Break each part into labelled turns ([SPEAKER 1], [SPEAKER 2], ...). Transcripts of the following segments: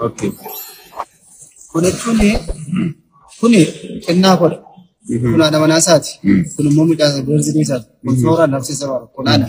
[SPEAKER 1] Okay. Kun jechuun
[SPEAKER 2] kun kennaa godha. Kun haadha manaa isaati. Kun immoo midhaan barsiisee isaati. Kun sooraan nafsee sabaa kun haadha.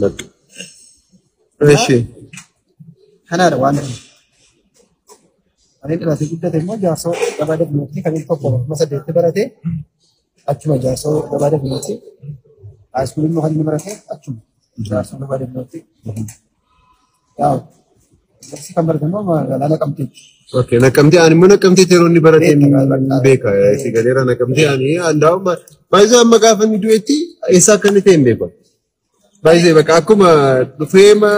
[SPEAKER 2] Bakka.
[SPEAKER 1] Eshi.
[SPEAKER 2] Kanaadha waan ta'eef. Ani dhalatee guddate immoo jaarsoo gabaa dabnuutti kan inni tokko kuma saddeetti barate achuma jaarsoo gabaa dabnuutti haayiskuulii immoo kan inni barate achuma jaarsoo gabaa dabnuutti Barsi kan baratamu magaalaa Naqamteetti. Oke, nakamtee
[SPEAKER 1] ani mana kamtee yeroo inni baratee beeka. Si galeera nakamtee ani andaa'u baay'ee amma gaafa inni du'etti eessaa akka inni ta'e hin beeku. Baay'ee bakka akkuma dhufee ma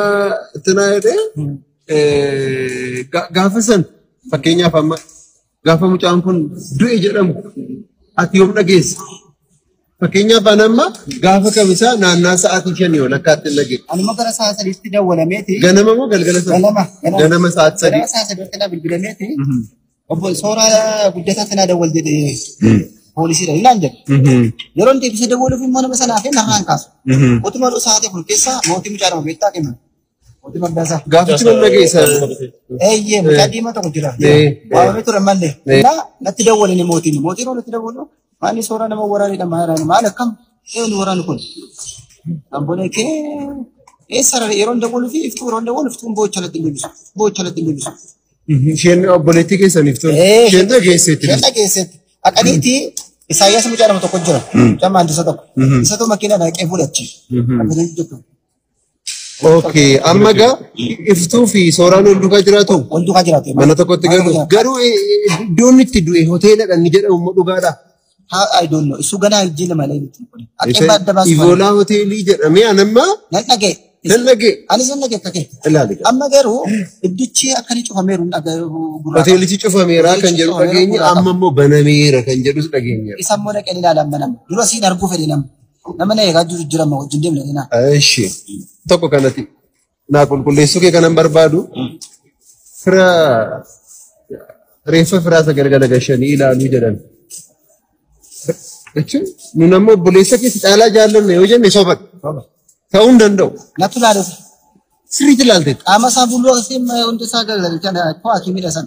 [SPEAKER 1] tanaa jedhee gaafa san fakkeenyaaf amma Gaafa mucaan kun du'e jedhamu ati yoom dhageesse? Fakkeenyaaf an amma gaafa kamisaa naannaa sa'aatii shanii ol akka atti hin dhageesse. Anuma gara sa'a sadiitti
[SPEAKER 2] dawwalameeti. Ganama moo galgala sana?
[SPEAKER 1] Ganama. Ganama sa'aatii sadii. Ganama sa'a sadiitti na bilbilameeti.
[SPEAKER 2] Obbo Sooraa guddataa sanaa dawwal jedhee poolisiidha ilaan jedhe. Yeroo deebisee dawwaluuf immoo nama sanaa fi narraan kaasu. Utuma dhuu sa'aatii kun keessaa mootii mucaa nama beektaa kenna. Gaafichi nan dhageessa.
[SPEAKER 1] Eeyyee
[SPEAKER 2] mucaa diimaa tokko jira. Waamamee ture mallee. Naa natti dawwalani mootiin. Mootiin hoo natti dawwalu. Maalli suuraa nama waraanidha maaraani. Maal akkam? Eenu waraanu kun. Ambolee kee. Eessa rara yeroo dawwalu fi iftuu yeroo dawwalu iftuun boocha natti deebisu. Boocha natti deebisu. Isheen
[SPEAKER 1] obboleettii keessaniif ture. Ee, Isheen dhageesseetti. Isheen dhageesseetti.
[SPEAKER 2] Haqaniiti Isaayyaas mucaa nama tokko jira. Mucaa maandisa tokko. Isatu makiinaa dhaqee fuudhachi. Akkana jettu.
[SPEAKER 1] Okay, amma egaa iftuu fi sooraan wal duukaa jiraatu Wal duukaa jiraatu. mana
[SPEAKER 2] tokkotti Mana galu. tokko jiraatu.
[SPEAKER 1] Garuu eh, eh, iddoon itti du'e hoteeladha ni jedhamu immoo dhugaadha. Haa I don't know.
[SPEAKER 2] Isu ganaa hin jenne malee miti. Akka adda Isa baasu. Ivoolaa hoteelii
[SPEAKER 1] jedhamee an amma Nan dhaga'e.
[SPEAKER 2] nan dhagee Anis
[SPEAKER 1] nan dhaga'e akka kee.
[SPEAKER 2] ilaali. Amma garuu iddichi akka ni cufameeru hin dhaga'e gurraa. Hoteelichi
[SPEAKER 1] cufameeraa kan jedhu Hoteelichi dhageenya cufameera. amma immoo banameera kan jedhus dhageenyeera. Isa immoo dhaqee ni ilaalan
[SPEAKER 2] banama. Dura siin arguu fedhe nama. Nama na eegaa jiru jira amma wajjin deemna keenaa. Eshi.
[SPEAKER 1] Tokko kanati. Naa qulqulleessuu kee kanan barbaadu. Fira reeffa firaa isa gargala gashanii ilaaluu jedhan. Jechuun nun ammoo obboleessa keessa caalaa jaallanne yoo jenne soba ta'uu hin danda'u. Natti ilaaluuf.
[SPEAKER 2] Sirriitti
[SPEAKER 1] ilaalteetti. Qaama isaa fuuldura keessee
[SPEAKER 2] hunda isaa gargalchan koo akimiidha san.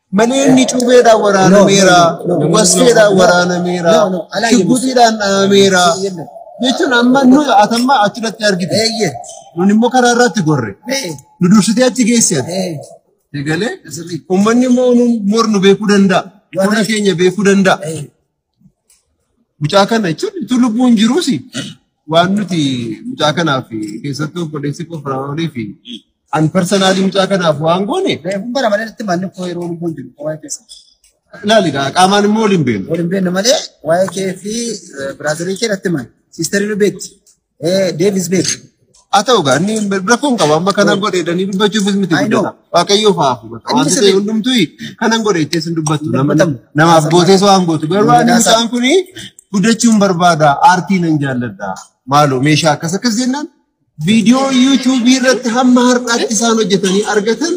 [SPEAKER 2] Maneenni
[SPEAKER 1] cuubeedhaan waraanameera, waskeedhaan waraanameera, shugguxiidhaan dha'ameera. Jechuun amma nuyi atamma achirratti argite. Nun immoo karaa irratti gorre. Nu dursitee achi geessan. Egalee uummanni immoo nu mornu beekuu danda'a. Fuula keenya beekuu danda'a. Mucaa kana jechuun utuu lubbuun jiruus waan nuti mucaa kanaaf keessattuu obboleessi koo Firaa'olii fi an parsanaalii mucaa kanaaf waan goone Reefuu bara malee itti manni
[SPEAKER 2] koo yeroo lubbuun jiru waa'ee keessa. ilaali gaa
[SPEAKER 1] qaamaan immoo waliin beeknu. Waliin beekna malee
[SPEAKER 2] waa'ee kee fi biraadarii kee natti himan. Siistarii nu beekti. Deevis beeku. Haa ta'u gaa inni
[SPEAKER 1] rakkoon qaba amma kanan godhe jedhanii dubbachuufis miti I know. guddata. Waaqayyoo fa'aafu bakka Inni wanti ta'e sirrii. hundumtuu kanan godhe jettee sin dubbattu Hin nama dubbatamu. namaaf gootees waan gootu garuu ani Miidhaasa. mucaan kuni guddachuun barbaada aartii nan jaalladha maaloo meeshaa akkas akkas jennaan viidiyoo yuutuubii irratti hamma har'aatti isaan hojjetanii argatan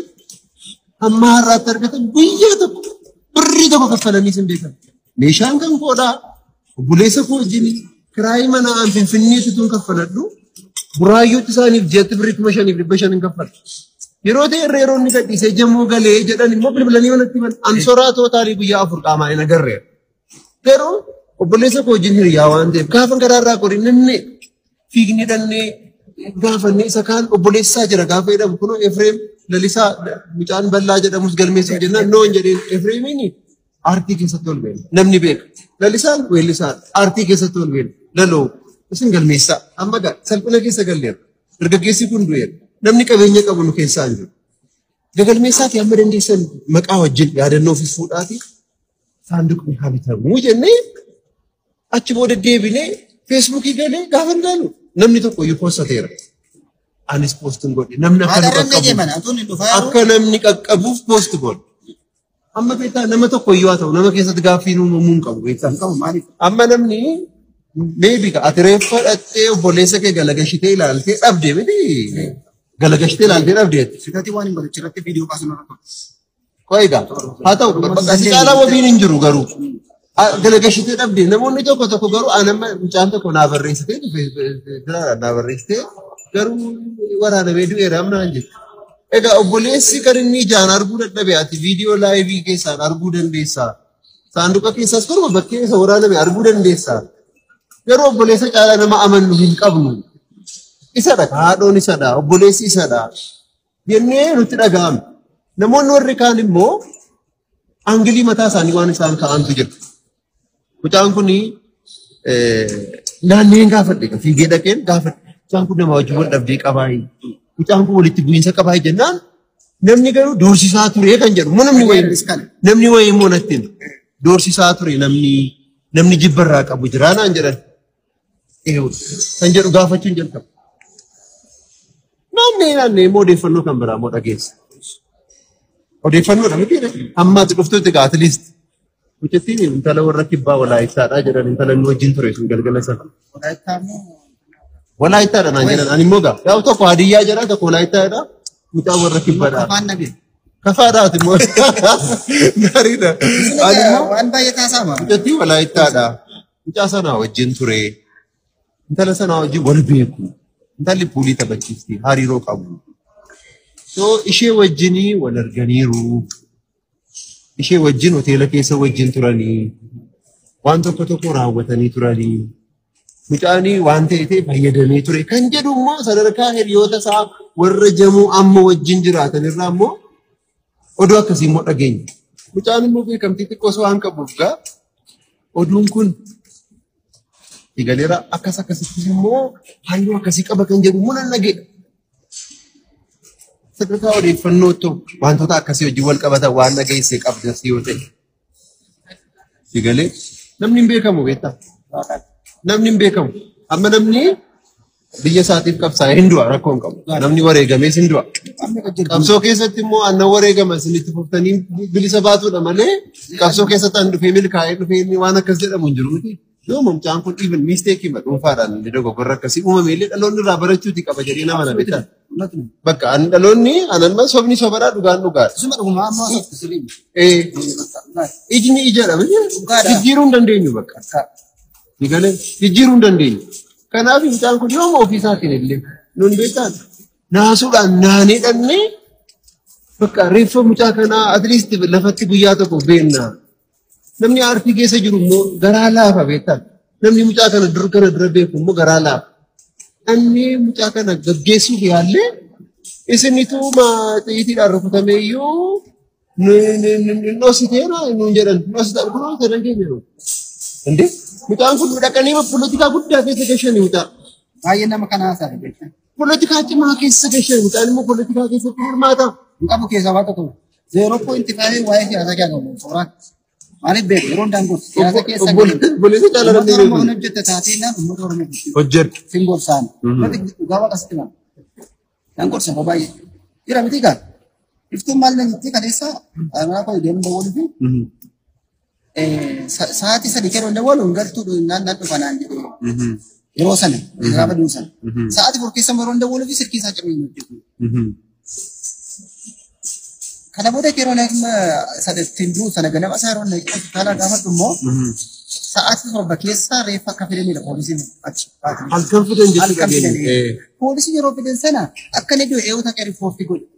[SPEAKER 1] hamma har'aatti argatan guyyaa tokko birrii tokko kaffalanii sin beekan meeshaan kan koodhaa Obboleessa koo wajjin kiraayii mana aan finfinnee situun kaffaladhu buraayyuutti isaaniif jeetti birrii kuma shaniif dhibba shan hin kaffalu. Yeroo ta'e irra yeroo inni gadhiisee jamoo galee jedhan immoo bilbilanii manatti himan an soraa tootaalii guyyaa afur qaamaa hin agarreera. Garuu obboleessa koo wajjin hiriyaa waan ta'eef gaafa garaarraa qorii nanne fiigni dhannee gaafannee isa kaan obboleessaa jira gaafa jedhamu kunoo Efreem lalisaa mucaan bal'aa jedhamus galmeessuuf jennaan noon jedheen Efreemiini Aartii keessatti ol beela. Namni beeka. Lalisaan weellisaa aartii keessatti ol beela. Laloo isin galmeessaa. Amma gaa salphina keessa galleera. Dargaggeessi kun du'eera. Namni qabeenya qabu nu keessaa hin jiru. Gagalmeessaati amma dandeessan maqaa wajjin yaadannoo ofis fuudhaati. Saanduqni haa bitamu jennee achi booda deebinee feesbuukii galee gaafa hin gaalu namni tokko iyyuu poostateera. Anis poostiin godhe namni akka nu Maalarra hin qaqqabu. deeman atuun hin dhufaa akka namni qaqqabuuf poost godhe. Amma beektaa nama tokko iyyuu haa ta'u nama keessatti gaaffii uumamuu hin qabu beektaa hin qabu maaliif? Amma namni meebi ati reeffa dhattee obboleessa kee galagashitee ilaaltee dhabde miti galagashitee ilaaltee dhabde ati. Fidati waan hin barichi irratti
[SPEAKER 2] viidiyoo kaasuu narra ture. Qoy egaa
[SPEAKER 1] haa ta'u bakka si caalaa wabiin hin jiru garuu. Ah, Galagashitee dhabde namoonni tokko tokko garuu an amma mucaan tokko naa barreessitee biraadha naa barreessitee garuu waraanamee du'eera amma naan jettu. Egaa obboleessi kan inni ijaan arguu dadhabe ati viidiyoo laayivii keessaan arguu dandeessaa. Saanduqa keessaas garuu bakkee isa waraaname arguu dandeessaa. Garuu obboleessa caalaa nama amannu hin qabnu. Isadha haadhoon isadha obboleessi isadha. jennee nutti dhaga'ame. Namoonni warri kaan immoo angilii mataa isaanii waan isaan ka'antu jira. Mucaan kun naanneen gaafadhe fiigee dhaqeen gaafadhe. Mucaan kun nama wajjin wal dhabdee qabaayi. Mucaan kun walitti bu'iinsa qabaayi jennaan namni garuu doorsisaa ture kan jedhu immoo namni wayii namni wayii immoo natti hima. doorsisaa ture namni namni jibbarraa qabu jiraanaan jedhan. Eewu. Kan jedhu gaafachuun jalqaba. Naannee naannee immoo odeeffannoo kan biraa immoo dhageessa. Odeeffannoodha miti ammaati dhuftutti gaa atleast. Mucattiin intala warra kibbaa walaayittaadha jedhan intala inni wajjin ture sun galgala sana. Walaayittaadha naan jedhan ani immoo gaa gaaf tokko hadiyyaa jedha tokko walaayittaadha mucaa warra kibbaadha. Kafaadhaati immoo gaariidha. Ani immoo Waan baay'ee taasama.
[SPEAKER 2] mucattii walaayittaadha.
[SPEAKER 1] Mucaa sanaa wajjin ture. Intala sanaa wajjin wal beeku. Intalli puulii taphachiifti. Hariiroo qabu. So ishee wajjinii wal arganiiru. Ishee wajjin hoteela keessa wajjin turanii. Waan tokko tokko raawwatanii turanii. Mucaanii waan ta'eef fayyadamee ture. Kan jedhu immoo sadarkaa hiriyoota isaa warra jamuu amma wajjin jiraatan irraa immoo Oduu akkasii immoo dhageenya. Mucaan immoo beekamtii xiqqoo osoo waan qabuuf gaa oduun kun eegaleera akkas akkasittis immoo halluu akkasii qaba kan jedhu immoo nan dhageedha. Sadarkaa odeeffannoo ta'u wantoota akkasii wajjin wal qabatan waan dhageesse qabdas yoo ta'e. Si galee namni hin beekamu beektaa? Namni hin beekamu. Amma namni biyya isaatiif qabsaa'ee hin du'a rakkoo hin qabu. Namni wareegamees hin du'a. Qabsoo keessatti immoo aannan wareegama isin itti fuftanii bilisa baatuudha malee qabsoo keessatti aan dhufee milkaa'ee dhufee inni waan akkas jedhamu hin jiru miti. Yoo mucaan kun even mistake ma dhuunfaadhaan illee dogoggorra akkasii uumame illee dhaloonni irraa barachuuti qaba jedhee nama na beekan. Bakka ani dhaloonni ananma sobni sobadhaa dhugaan dhugaadha. Isuma dhuguma amma sirrii.
[SPEAKER 2] Eh,
[SPEAKER 1] Ijni ijaadha miti Dhugaadha. jijjiiruu hin dandeenyu bakka. Ni galee jijjiiruu hin dandeenyu. Kanaaf mucaan kun yooma ofii isaatiin illee nun beekan naasuudhaan naanee dhannee bakka reeffa mucaa kanaa at least lafatti guyyaa tokko beennaa. Namni aartii keessa jiru immoo garaa laafa beektaa. Namni mucaa kana dur kana dura beeku immoo garaa laafa. Namni mucaa kana gaggeessuuf yaallee isinitu xiyyitiidhaan rukutamee iyyuu dhositee nuun jedhan dhositaan kun hojjetan keenya jiru. Mucaan kun dhaqanii politikaa guddaa keessa gashanii mucaa. Baay'ee nama kanaa
[SPEAKER 2] sana jechuudha. Poolitikaa cimaa
[SPEAKER 1] keessa gashee mucaan immoo poolitikaa keessatti hirmaata. Hin qabu keessaa waan
[SPEAKER 2] tokko. Zeeroo poointi faayee waa'ee siyaasaa keessaa qabu. Suuraa. Maaliif beeku? Yeroo daangoon siyaasa keessa Obboleessa caalaa Uummata dandeenye.
[SPEAKER 1] Oromoon hojjette taatee
[SPEAKER 2] naan uummata Oromoo bulchu. Hojjedhu. Sin
[SPEAKER 1] gorsaan. Uummati
[SPEAKER 2] dhugaa waaqa sitti malu. Naan gorsa yeroo baay'ee. Jira miti kaa. Iftuun maal na jettee kaleessa aanaa koo deemuu dawwanii fi Sa'aatii sadii keessa hin dawwalu hin galtuu naan naan dhufa naan jedhee. Yeroo sana irraa baduun sana. Sa'aatii afur keessa yeroo hin dawwalu fi silkii isaa cabee hin hojjetu. Kana booda yeroo naan sadattiin du'u sana ganama isaa yeroo naan hospitaala gaafadhu immoo sa'aatii torba keessa reeffa akka fidanidha poolisiin achi. Halkan fidan
[SPEAKER 1] jechuudha. Halkan fidan. Poolisiin yeroo
[SPEAKER 2] fidan sana akka inni du'e eewwata akka riippoortii godhe.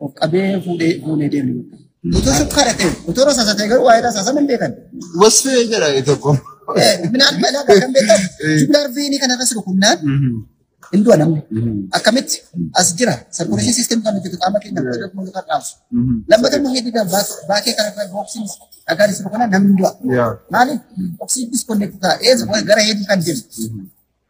[SPEAKER 2] Of qabee fuudhee fuunee deemu. Utuu sukkaara ta'e, utuu rasaasa ta'e garuu waa'ee rasaasa hin beekan. Wasfee jedha
[SPEAKER 1] tokko. Minaan
[SPEAKER 2] balaa kan beekan jumlaa arfiinii kana irratti rukunnaan hin du'a namni. Akkamitti as jira sarkuleeshin siistem kan hojjetu qaama keenya irratti dhaqnu kan dhaabsu. Lammata immoo hedduu dha baakee kana irra booksiin dhagaan isa rukunnaan namni hin du'a. Maaliif oksiin diskoonekti ta'a eessa gara hedduu kan deemu.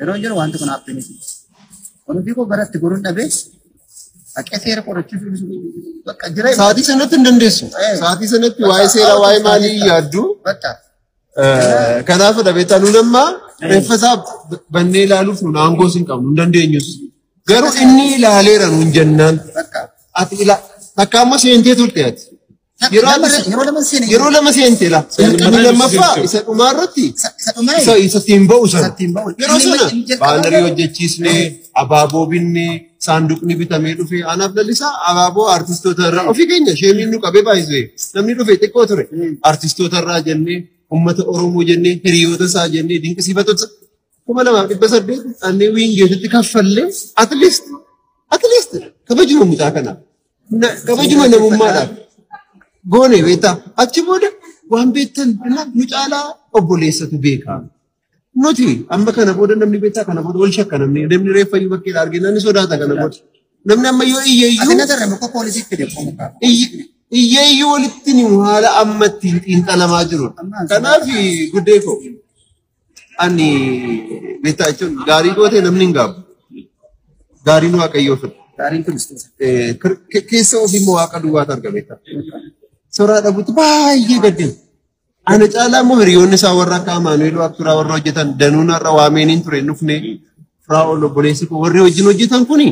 [SPEAKER 2] Yeroo jiru wanti kun haappii miti. Wanti koo gara itti goruun dhabee haqee seera qorachuuf bakka jira. Sa'aatii sanatti hin dandeessu.
[SPEAKER 1] Eh. Sa'aatii sanatti waa'ee seeraa waa'ee maalii hin yaaddu. Bakka. Eh, Kanaaf dhabeetaa nuun amma reeffa isaa bannee ilaaluuf nuun aangoos hin qabnu hin dandeenyus. Garuu inni ilaaleera nuun jennaan. Bakka. Ati ila takka amma seentee turte ati. Yeroo lama se- yeroo lama seene yeroo lama seente la Seene inni lama lammaffaa seene. isa dhumaa irratti isa isa dhumaa isa isatti hin ba'u sana Isatti hin ba'u. yeroo Inni sana inni jalqaba baanarii garuu- hojjechiisne abaaboo binne saanduqni bitamee dhufe anaaf lallisaa abaaboo artistoota irraa ofii keenya sheemiin nu qabee baay'isee namni dhufe xiqqoo ture artistoota irraa jennee ummata oromoo jennee hiriyoota isaa jennee dinqisiifatota kuma lamaaf dhibba saddeet dhannee wiingeetitti kaffallee at least at least kabajuma mucaa kanaaf Na- Kabajuma namummaadhaaf goone beektaa. Achi booda waan beektan dhimma nu caalaa obboleessatu beekaa. Nuti amma kana booda namni beektaa kana booda wal shakka namni namni reeffa iyyuu bakkee argee namni sodaata kana booda. Namni amma yoo iyye iyyuu Asina darra maka polisi fide komuka. iyye- iyyee iyyuu walitti ni haala ammatti xiinxalamaa jiru. Kanaaf guddee koo. Ani beektaa jechuun gaarii gootee namni hin gaabu. Gaariin waaqayyoo fedha. Gaariin Kiristoos. Eh, kir- ke- Keessa ofii immoo waaqa duwwaatu arga beektaa. Soraa dhabuutti baay'ee gaddina. Ana caalaa immoo hiriyoonni isaa warra akka Amaanu'eel Waaqturaa warra hojjetan danuun har'a waameeniin ture hin dhufne. Firaa'ol obboleessi koo warri wajjin hojjetan kuni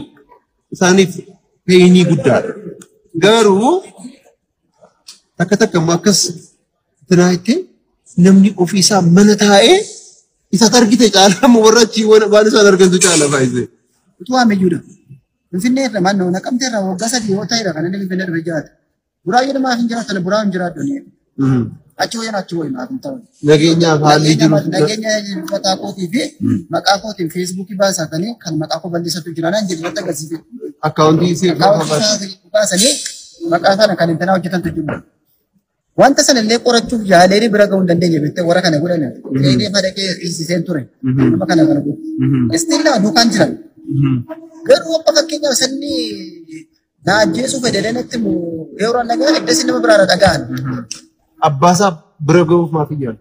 [SPEAKER 1] isaaniif peenii guddaadha. Garuu takka takka immoo akkas Biraa itti namni ofii isaa mana taa'ee isa argite caalaa moo warra achii waan waan isaan argantu caalaa baay'isee. Utuu ammayyuudha.
[SPEAKER 2] Finfinnee irra mannoo naqamtee irra waggaa sadii yoo ta'eera kan inni Finfinnee irra jiraate. Buraa jedhama hin jiraatan buraa hin jiraadhu. Achi wayyan achi wayyan haa ta'u. Nageenyaaf haalli
[SPEAKER 1] jiru. Nageenya maqaa
[SPEAKER 2] kootii fi maqaa kootiin feesbuukii baasatanii kan maqaa koo balleessatu jiranaan jedhu irratti agarsiise. Akkaawuntii seeraa
[SPEAKER 1] Akaawuntii
[SPEAKER 2] baasanii maqaa sana kan intalaa hojjetantu jiru. Wanta sana illee qorachuuf yaalee bira ga'uu hin dandeenye jettee warra kana godhan eegee madaqee hiisiseen ture. Nama kana kana godhu. Istiin lama duukaan jiran. Garuu amma fakkeenyaaf sanni na ajjeesuu fedhelee natti mu yeroo nagaa iddasi nama biraarra dhaga'an. Abbaasaa
[SPEAKER 1] bira ga'uuf maaf hin yaalu?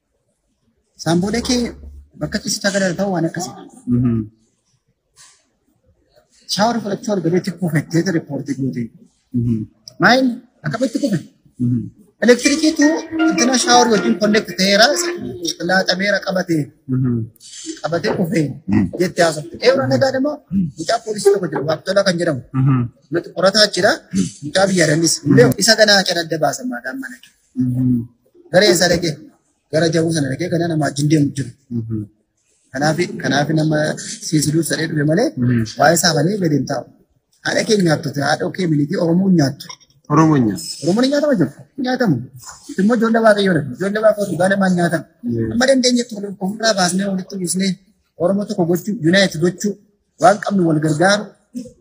[SPEAKER 2] Isaan booda kee bakka ciisicha gara ta'u waan akkasii. Shaawar fudhachuu argameetti kuufettee ture poortii guutee. Maayil akkamitti kufe? Elektirikiitu intina shaawar wajjin konneekt ta'eera laaxameera qabatee qabatee kufee jettee haasofte. Eewra nagaa immoo mucaa poolisii tokko jira Waaqtolaa kan jedhamu. Nuti qorataa jira mucaa biyya dannis. Isa ganaa kan adda baasan maadaan mana. Gara eessaa dhaqee? Gara jabuu sana dhaqee kana nama wajjin deemu jiru. Kanaaf kanaaf nama siisiluuf sadhee dhufe malee waa'ee isaa malee gadi hin taa'u. Haadha kee nyaattu haadha kee militii Oromoo hin nyaattu. Oromoo hin nyaatu. Oromoon hin nyaatamu jiru. Hin nyaatamu. Immoo ijoollee waaqayyoo dha. Ijoollee waaqayyoo dhugaa namaa hin nyaatamu. Amma dandeenye tokko ofirraa baasnee walitti buusnee Oromoo tokko gochuu, yunaayit gochuu, waan qabnu wal gargaaru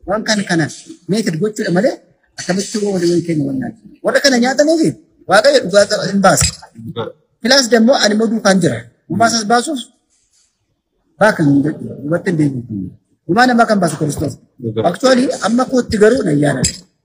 [SPEAKER 2] waan kan kana meeted gochuudha malee akkamitti yoo walii walii keenya wannaan warra kana nyaataniif waaqayyo dhugaa qaba hin baasa. Filaas dammoo ani immoo duukaan jira. Gumaa isaas baasuuf baakan hin jedhu dubartiin deebiitu. Gumaa namaa kan baasu Kiristoos. Aktuwaalii amma kootti garuu na yaadadha.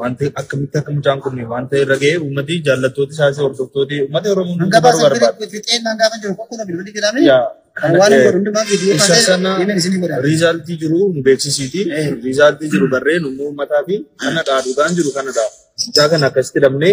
[SPEAKER 3] Wanti akkamitti akka mucaan kun wanta irra ga'e uummati jaallattooti isaas hordoftooti uummata Oromoo Hanga hundumaa baasan barbaada. bira
[SPEAKER 2] fixeen hanga kan jiru qoqqoodha bilbilli jedhame. Yaa Kan kana waan hin eh, godhu hundumaa viidiyoo isa kaasee sana deemeen isinii godha. riizaaltii jiru
[SPEAKER 3] nu beeksisiiti. Eh. Riizaaltii jiru barreen immoo uummataa fi kanadhaa dhugaan jiru kanadhaa. Mucaa kana akkasitti dhabnee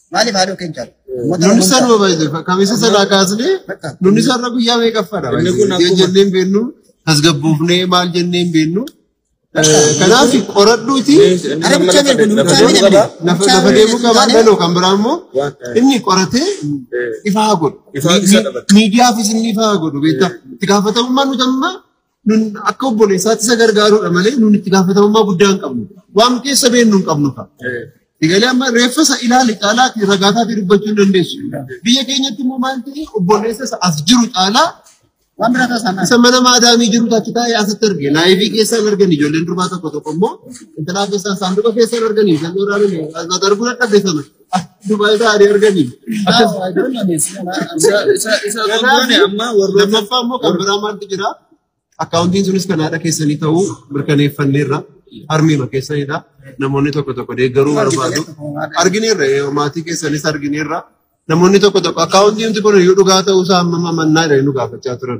[SPEAKER 2] Maaliif haadhoo keenya caalu? Uummata Nunni Oromoo sanuma baay'ee
[SPEAKER 1] kamiisa sanaa kaasnee Bakka. nunni sarara guyyaa meeqaffaadha Inni kun baay'ee akkuma- jennee hin beennu tasgabboofnee maal jennee hin beennu. Kanaaf qoradhuuti Ana bichaa beeku, nu bichaa beeku, Lafa- lafa bichaa lafa beeku deemuu qabaa taanee- galoo kan biraa immoo Waan- eh. inni qoratee ifaa godhu. Ifaa isa dhabata. Miidiyaafis inni ifaa godhu beektaa. Itti gaafatamummaan nuti amma Nun akka obboleessaatti isa gargaaruudha malee nun itti gaafatamummaa guddaa hin qabnu. Waan keessa beennu hin qabnu ta'a. Digalee amma reeffa isa ilaali caalaa fi ragaa taatee dubbachuu hin dandeessu. Biyya keenyatti immoo maal ta'e obboleessa isa as jiru caalaa Waan biraa taasisan. isa mana maadaamii jiru tachi taa'ee asitti arge. Laayivii keessaan argan ijoolleen durbaa tokko tokko immoo intalaa keessaan saanduqa keessaan arganii kan dhooraan mata darbuu dadhabde sana. Dubai isaa adii arganii. Lammaffaa immoo kan biraa maaltu jira? Akkaawuntiin sunis kan haadha keessanii ta'uu mirkaneeffanneerra. Harmiima keessanidha. Namoonni tokko tokko deeggaruu barbaadu. Argineerra eh, maatii keessanis argineerra. Namoonni tokko tokko akkaawuntiin kun iyyuu dhugaa ta'uu isaa amma mannaa jedhanii nu gaafachaa turan.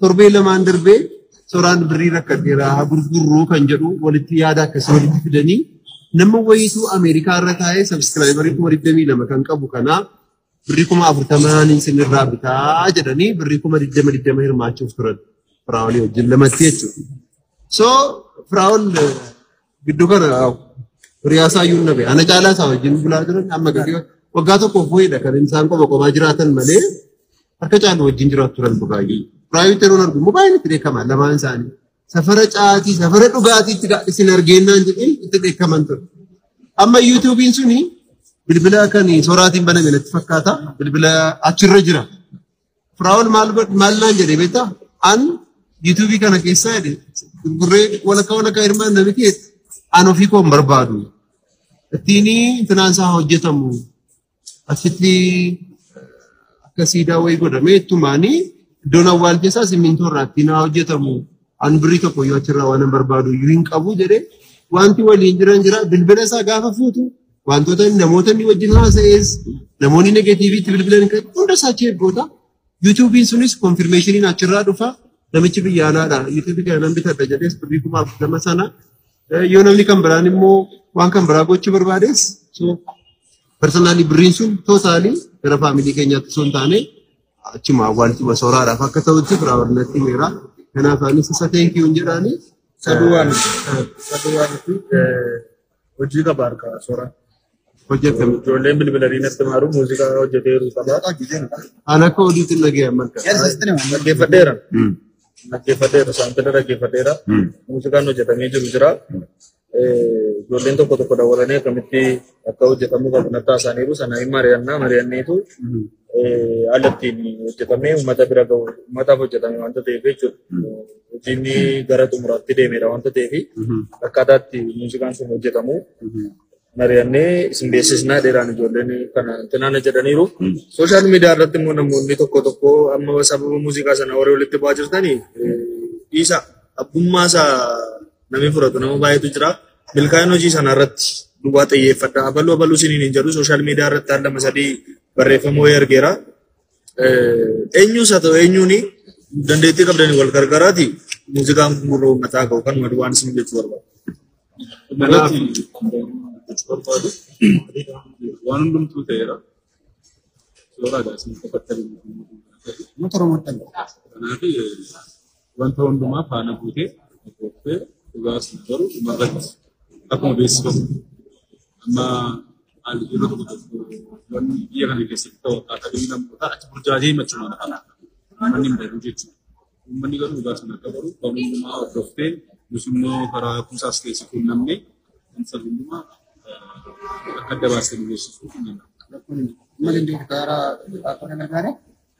[SPEAKER 1] Torbee lamaan darbee soraan birrii rakkadheera haa gurgurruu kan jedhu walitti yaada akkasii walitti fidanii nama wayiitu Ameerikaa irra taa'ee sabiskiraayibarii kuma digdamii lama kan qabu kanaa birrii kuma afurtamaan isinirraa bitaa jedhanii birrii kuma digdama digdama hirmaachuuf turan firaa'olii wajjin lamatti jechuudha. So firaa'ol Giddu kana hiriyaasaa iyyuu nabe. Ana caalaa isaa wajjin bulaa jiran amma gadi waggaa tokkoof wayiidha kan isaan qoba qobaa jiraatan malee harka caalu wajjin jiraatu turan baay'ee. Raayuu teroon argu immoo baay'een itti dheekkama lamaan isaanii. Safara caatii safara dhugaatiitti isin argeennaan jedhee itti dheekkaman ture. Amma yuutuubiin suni bilbila kan soraatiin baname natti fakkaata. Bilbila achirra jira. Firaa'ol maal godh- maal naan jedhe beektaa? An yuutuubii kana keessaa jedhe gurgurree walakkaa walakkaa hirmaan nami keessa an ofii koo hin barbaadu. Ittiin finaansaa hojjetamu asitti akka siidaa wayii godhamee ittumaanii iddoon awwaal keessaa simmintoo irraa ittiin haa hojjetamu. An birrii tokko yoo achirraa waan hin barbaadu iyyuu hin qabu jedhee wanti waliin jiran jira bilbila isaa gaafa fuutu Wantoota namoota inni wajjin haasa'es namoonni negatiivii itti bilbilan kan hunda isaa achi ergoota. Yuutuubiin sunis konfirmeeshiniin achirraa dhufa. Namichi biyya alaadha. Yuutuubii kana nan bitadha jedhees birrii kuma afurtama sana. Eh, Yoo namni kan biraan immoo waan kan biraa gochuu barbaades so personaalii birriin sun tootaalii gara faamilii keenyaatti osoo hin taane achuma awwaalchuma sooraadhaaf akka ta'utti biraa barnatti meera. Kanaaf anis isa teenkiyuun jedhaanii. Saduu waan
[SPEAKER 3] saduu waan Hojii qaba harkaa soraa. Hojjetame
[SPEAKER 1] ijoolleen bilbila
[SPEAKER 3] riinatti maaru muuziqaa hojjetee jiru qaba. An akka
[SPEAKER 1] oduutiin dhaga'e amma akka. Dhaggeeffadheera.
[SPEAKER 3] Dhaggeeffadheera saantila dhaggeeffadheera. Muuziqaan hojjetamee jiru jira. Ijoolleen tokko tokko dabalanee akkamitti akka hojjetamuu qabu natti haasa'aniiru sana hin mari'annaa mari'anneetu haala ittiin hojjetamee uummata bira gahu uummataaf hojjetame waanta ta'eef jechuudha. Hojiin gara xumuraatti deemedha waanta ta'eef akkaataa itti muuziqaan sun hojjetamu mari'annee isin beeksisnaa dheeraan ijoolleen kana tanaana jedhaniiru. Sooshaal miidiyaa irratti immoo namoonni tokko tokko amma sababa muuziqaa sana warri walitti bu'aa jirtanii dhiisa abbummaa isaa Namni fudhatu nama baay'eetu jira. Milkaa'ina hojii sana irratti duwwaa xiyyeeffadha. Abaluu abaluu isiniin hin jedhu sooshaal miidiyaa irratti al lama sadii barreeffama wayii argeera. Eenyuus haa ta'u eenyuuni dandeettii qabdanii wal gargaaraati muuziqaan kun gurra uummataa ka'u kan madu waan isin jechuu barbaadu. Kanaaf barbaadu waan hundumtuu ta'eera. Suuraa
[SPEAKER 4] gaasiin qofaatti Uummata Oromoo ta'e. Kanaaf Wanta hundumaa faana buutee hordooftee dhugaa sun garuu dhumarratti akkuma beeksifamu amma haalli yeroo tokko tokko wanni biyya kana keessatti ta'u akkaataa biyyi namootaa achi burjaajee machumaan kana uummanni hin beeku jechuudha. Uummanni garuu dhugaa sun akka baru waan hundumaa hordooftee nus immoo karaa kuusaas keessi quunnamne kan sana hundumaa akka adda baasee nu beeksisuu hin danda'amu. Malindir Gaara
[SPEAKER 2] Afaan Nagaara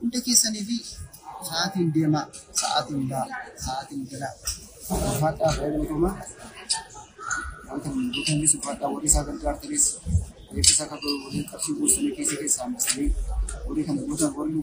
[SPEAKER 2] Hunda keessaniifi sa'aatiin deemaa, sa'aatiin ba'aa, sa'aatiin galaa. Ulfaadhaa baay'ee galatoomaa. Wanta nuyi hojjetanis ulfaadhaa warri isaa gargaartanis eebbisaa akka ta'u warri qarshii buustanii kiisii keessaa hambistanii warri kana gootan warri nu